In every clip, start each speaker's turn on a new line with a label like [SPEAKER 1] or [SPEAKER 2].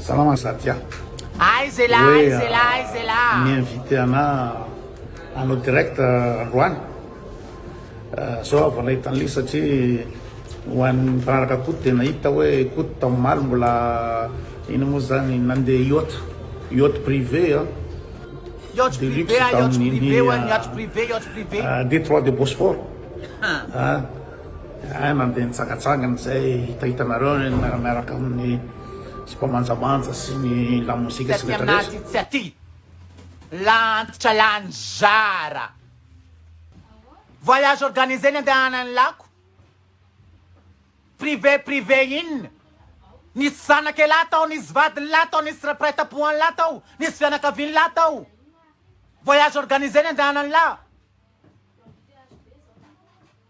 [SPEAKER 1] Salama Satya. Aiza elah,
[SPEAKER 2] aiza elah, aiza
[SPEAKER 1] elah.
[SPEAKER 2] Mi-inviter anah
[SPEAKER 1] hanao direct androany. Zao aho vao nahita an'ilay izy satria ho an'ny mpanaraka Koto dia nahita hoe Koto tao omaly mbola inona moa izany nandeha yacht, yacht privé an. Yacht privé, yacht
[SPEAKER 2] privé, yacht privé, yacht privé. Détroit de Bosphore.
[SPEAKER 1] Hay mandeha nitsangatsangana izay hitahitanareo ny miaramiaraka amin'ny sipa manjamanja sy ny lamozika sy ny rehetra rehetra. Taty anaty tsy aty
[SPEAKER 2] la antitra la nizara voyage organisé ny andehanan'ny lako privé privé inona nisy zanaka elah tao nisy vadiny lah tao nisy rapraitampohany lah tao nisy fianakaviany lah tao voyage organisé ny andehanan'ny lah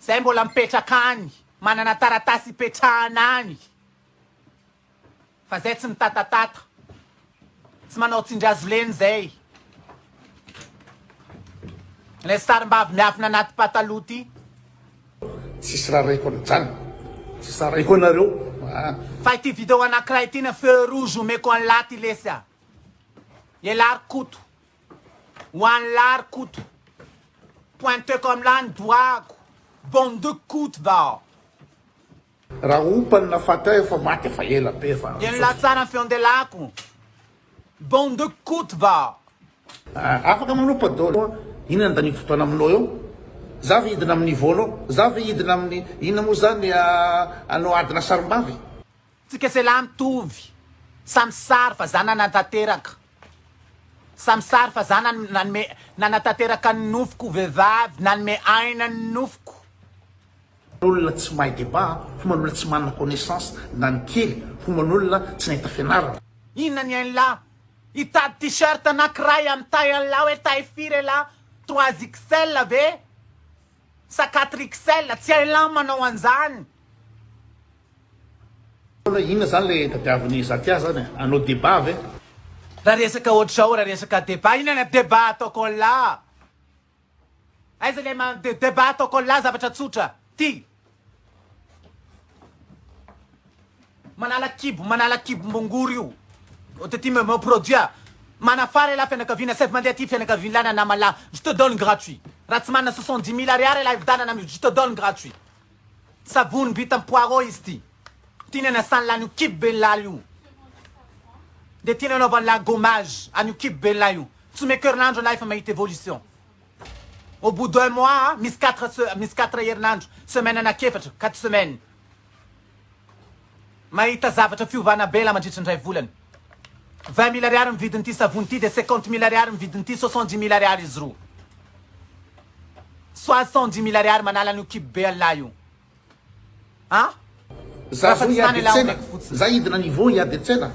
[SPEAKER 2] Zay mbola mipetraka any, manana taratasy ipetrahana any, fa zay tsy mitatatata, tsy manao tsindrazolena zay. Ilay sarimbavy miafina anaty pataloha ity.
[SPEAKER 1] Tsisy raraiko an'izany, tsisy raraiko anareo a. Fa ity
[SPEAKER 2] video anakiray ity na feu rouge omeko an'la ty lesy a. Ialahy ry Koto. Ho an'i Lary Koto, pointe comme là ny dohako, bande de Koto va ao.
[SPEAKER 1] Raha ompany na fatahy efa maty efa ela be fa. Dia nilaza tsara ny feon'i
[SPEAKER 2] Delako, bande de Koto va ao. Ah, afaka
[SPEAKER 1] manompa dolo a, inona ny danivo fotoana aminao eo? Za ve hidina amin'ny vôlô? Za ve hidina amin'ny inona moa zany anao adina sarimbavy? Tsika se
[SPEAKER 2] lahy mitovy, samy sary fa za nanatanteraka, samy sary fa za nanome, nanatanteraka ny nofoko ho vehivavy, nanome aina ny nofoko.
[SPEAKER 1] Olona tsy mahay débat, homan'olona tsy manana connaissance na ny kely, homan'olona tsy nahita fianarana. Inona ny ainlah?
[SPEAKER 2] Hitady t-shirt na kiray amin'ny taille anlah hoe taille firy elah? Trois XL ve sa quatre XL? Tsy hainlah manao an'zany.
[SPEAKER 1] Inona zany le tadiaviny Zakia zany e? Hanao debat ve? Raha resaka
[SPEAKER 2] ohatr'izao, raha resaka debat, inona ny debat ataoko anla? Aiza le man de debat ataoko anla zavatra tsotra ty. Manala kibo, manala kibom-bongory io. Ohatra ty me produit manafara elah fianakaviana saivo mandeha aty fianakavianlah na namanlah, je te donne gratuit. Raha tsy manana soixante dix mille ariary elah hividianana amiko, je te donne gratuit. Savony vita am poireau izy ty. Ty ny anasany lany io kibo ben lahy io de ty ny anaovany lahy gommage any io kibo ben lahy io. Tsy omeko herinandro lahy fa mahita evolution. Au bout d'un mois a misy quatre misy quatre herinandro semaine anak'efatra quatre semaines. Mahita zavatra fiovana bela mandritry ny iray volana. Vingt mille ariary ny vidin'ity savony ity dia cinquante mille ariary ny vidin'ity soixante dix mille ariary izy roa. Soixante dix mille ariary manala an'io kibo be Allah io. An! Za
[SPEAKER 1] zao hiady an-tsena, za hidina niveau hiady an-tsena.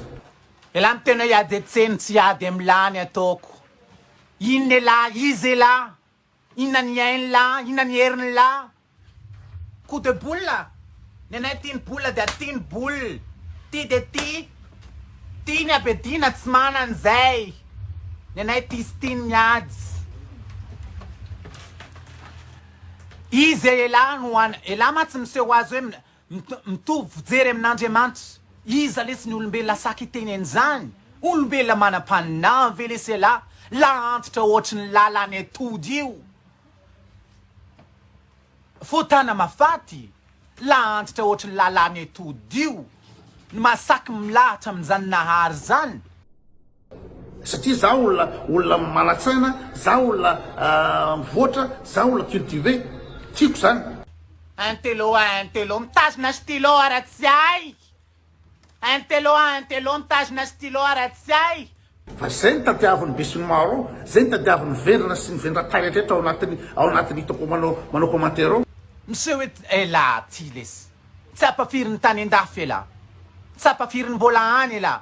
[SPEAKER 1] Elah miteny
[SPEAKER 2] hoe hiady an-tsena, tsy hiady amin'ny lany ataoko. Inona elah, iza elah? Inona ny ainy la, inona ny heriny la. Coup de boule, ny anay tia ny boule dia tia ny boule, tia dia tia, tia ny abediana tsy mana an'izay, ny anay tia sy tia ny miady. Izy e elah no an, elah mantsy miseho azy hoe. Mitovy fijery amin'Andriamanitra. Iza lesy ny olombelona saky hiteny an'izany? Olombelona manam-paninany ve lesy ialahy? Lahantitra ohatry ny lalan'ny atody io. Fotana mafaty, lahantitra ohatry ny lalan'ny atody io, no maha saky milahatra amin'izany Nahary izany.
[SPEAKER 1] Satria za olona olona manatsaina, za olona mivoatra, za olona cultivé. Tiako zany. Intello
[SPEAKER 2] a intello mitazona stylo ara tsy hay Intello a intello mitazona stylo ara tsy hay. Fa zay no
[SPEAKER 1] tadiavin'ny besinimaro ao, zay no tadiavin'ny vendrana sy ny vendran-tany rehetra ao anatin'ny ao anatin'ny hitako manao manao commentaire ao. Miseho et
[SPEAKER 2] elah ty lesy tsapa firy ny tany an-dafy elah, tsapa firy ny mbola any elah.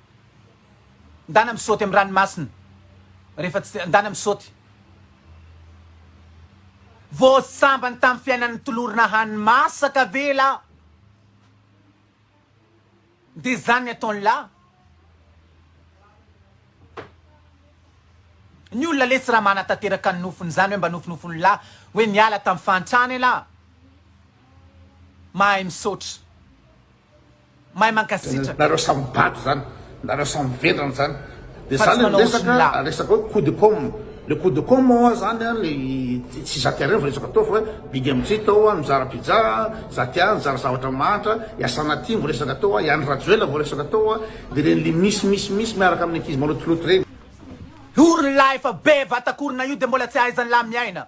[SPEAKER 2] Ndana misaoty am ranomasina rehefa tsy ndana misaoty vao sambany tam fiainany tolorina hany masaka ve la de zany ny ataony la ny olona le tsy ra manatateraka ny nofony zany oe mba nofinofiny la oe niala tam fahantrana ela mahay misaotra. Mahay mankasitraka. Nareo samy bado
[SPEAKER 1] zany, nareo samy vendrana zany de za le miresaka
[SPEAKER 2] resaka
[SPEAKER 1] hoe
[SPEAKER 2] coup de com,
[SPEAKER 1] le coup de com oa zany an le tsy za ty arevo resaka atao fa big amy jita ao an mizara pizza an, za ty an mizara zavatra mahantra, i asana ty vo resaka atao an, i andry rajoela vo resaka atao an, de reny le mis mis mis miaraka aminy ankizy malotoloto reny. Io
[SPEAKER 2] r'lah efa be vatakorona io de mbola tsy ahaizan'lah miaina.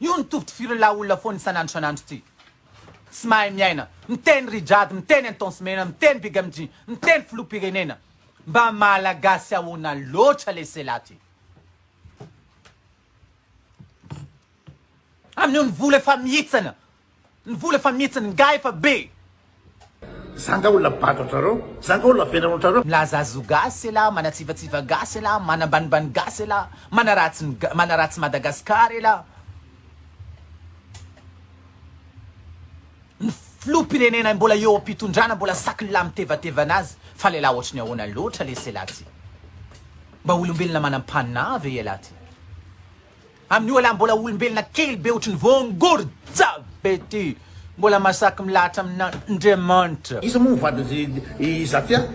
[SPEAKER 2] Io no tovo tifir'la olona foana isan'andro isan'andro ty. Tsy mahay miaina. Miteny Rijade, miteny Intense Mena, miteny Big MJ, miteny Filoham-pirenena. Mba Malagasy ahoana loatra le Sela ty. Amin'io ny vola efa mihitsana. Ny vola efa mihitsy ny ngahy efa be.
[SPEAKER 1] Zanga olona bado antrareo, zanga olona velona antrareo. Milaza azy ho gasy
[SPEAKER 2] elah, manatsivatsiva gasy elah, manambanimbany gasy elah, manaratsy ny gasy, manaratsy Madagascar elah. Ny filoham-pirenena mbola eo am-pitondrana mbola saky lelah mitevateva anazy fa lelah ohatry ny ahoana loatra lesy elah ty? Mba olombelona manam-panahy ve elah ty? Amin'io aleha mbola olombelona kely be ohatry ny voangorja be ty mbola masaky milahatra amin'Andriamanitra. Iza moa
[SPEAKER 1] vadin'zy i Zatia?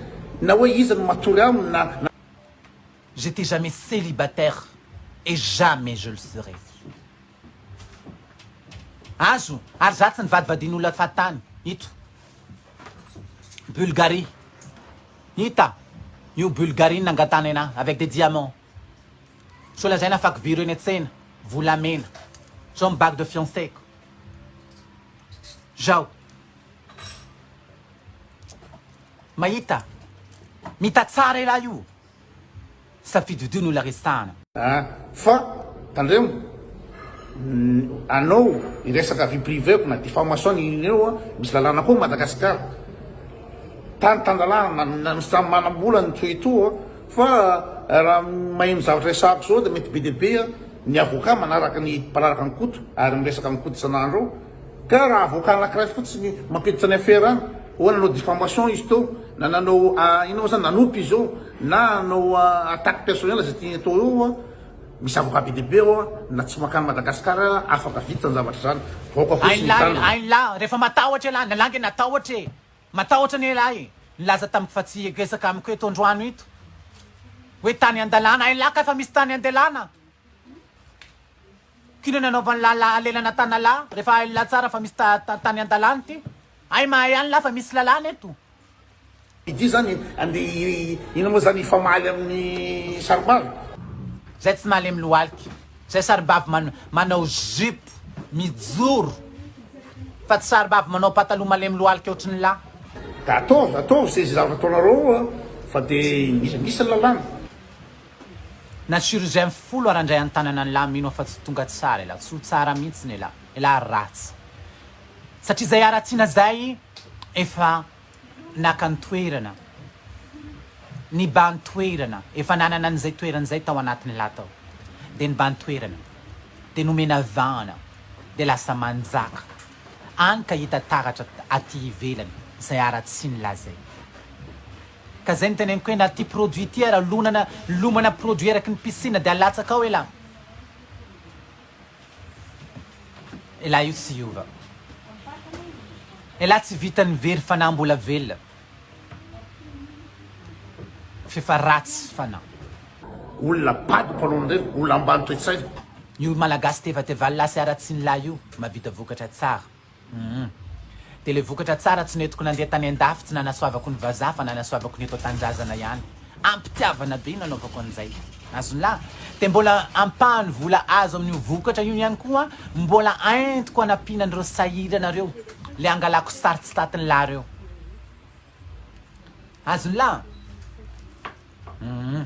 [SPEAKER 1] Na hoe iza no matory aminy na. J'etais
[SPEAKER 2] jamais celibataire et jamais je le serai. Azo, ary za tsy nivadivadin'olona fahatany. Ito. Bulgarie. Hita. Io Bulgarie nangatany anah avec des diamants. Sao lazaina fa kiviro eny an-tsena, volamena. Zao ny bague de fiancée-ko. Zao. Mahita? Mita tsara elah io. Safidividio ny olona resahana. A! Fa,
[SPEAKER 1] tandremo, anao hiresaka vie privée-ko na diffamation na inona eo an! Misy lalàna koa Madagasikara. Tany tan-dalàna na misy samy manam-bola ny toetoa. Fa raha maheno zavatra resahako zao dia mety be dia be ny avocat manaraka ny mpanaraka an'i Koto ary miresaka amin'i Koto isan'andro eo. Ka raha avocat anakiray fotsiny mampiditra ny affaire any, oh nanao diffamation izy teo, na nanao inona moa zany, nanopy izy eo, na hanao attaque personnel izay tiany atao eo oa, misy avocat be dia be ao na tsy mankany Madagascar afaka vita zany zavatra zany. Vahoaka fotsiny hitandrina. Ain lahy, ain lahy, rehefa
[SPEAKER 2] matahotra ialahy, na lahy nge natahotra e! Matahotra anie lahy e! Nilaza tamiko fa tsy hiegesaka amiko eto androano ito hoe tany andalana ay lahy ka efa misy tany andelana kino nanaovan'i lahy lahy alelana tanalahy refa hain'i lahy tsara fa misy ta ta tany andalana ity ay mahay any lahy fa misy lalàna eto. Ity
[SPEAKER 1] zany ande inona moa zany hifamaly amin'ny saribavy. Zay tsy
[SPEAKER 2] malemy lohalika. Zay sarimbavy man manao jupe mijoro fa tsy sarimbavy manao pataloha malemy lohalika ohatry ny lahy. Ka ataovy,
[SPEAKER 1] ataovy ze ze zavatra ataonareo eo fa de misy misy ny lalàna.
[SPEAKER 2] Na chirurgien folo ara ndray antanana ny lahy mino aho fa tsy tonga tsara elah, tsy ho tsara mihitsy ny elah, elah ratsy satria zay haratsiana zay efa naka ny toerana, nibahan-toerana, efa nanana an'izay toerana izay tao anatin'ny lahy tao, dia nibahan-toerana, dia nomena vahana, dia lasa manjaka, hany ka hita taratra aty ivelany izay haratsian'ny lahy izay. Ka izay no teneniko hoe na ity produit ity ara lonana, lomana produit araky ny piscine dia alatsaka ao elah. Elah io tsy hiova. Elah tsy vitan'ny very fanahy mbola velona.
[SPEAKER 1] F'efa ratsy fanahy. Olona
[SPEAKER 2] bado
[SPEAKER 1] mpanao an'ireny, olona ambany toe-tsaina. Io
[SPEAKER 2] malagasy tevatevallah sy haratsianlah io mahavita vokatra tsara. Humm. Dia ilay vokatra tsara tsy nentiko nandeha tany an-dafy tsy nanasoavako ny vazaha fa nanasoavako ny eto an-tanindrazana ihany. Am-pitiavana be nanaovako an'izay. Azon'la. Dia mbola ampahany vola azo amin'io vokatra io ihany koa mbola entiko anampiana an'ireo sahirana ireo, ilay angalako sary tsy tatin'la ireo. Azon'la. Humm.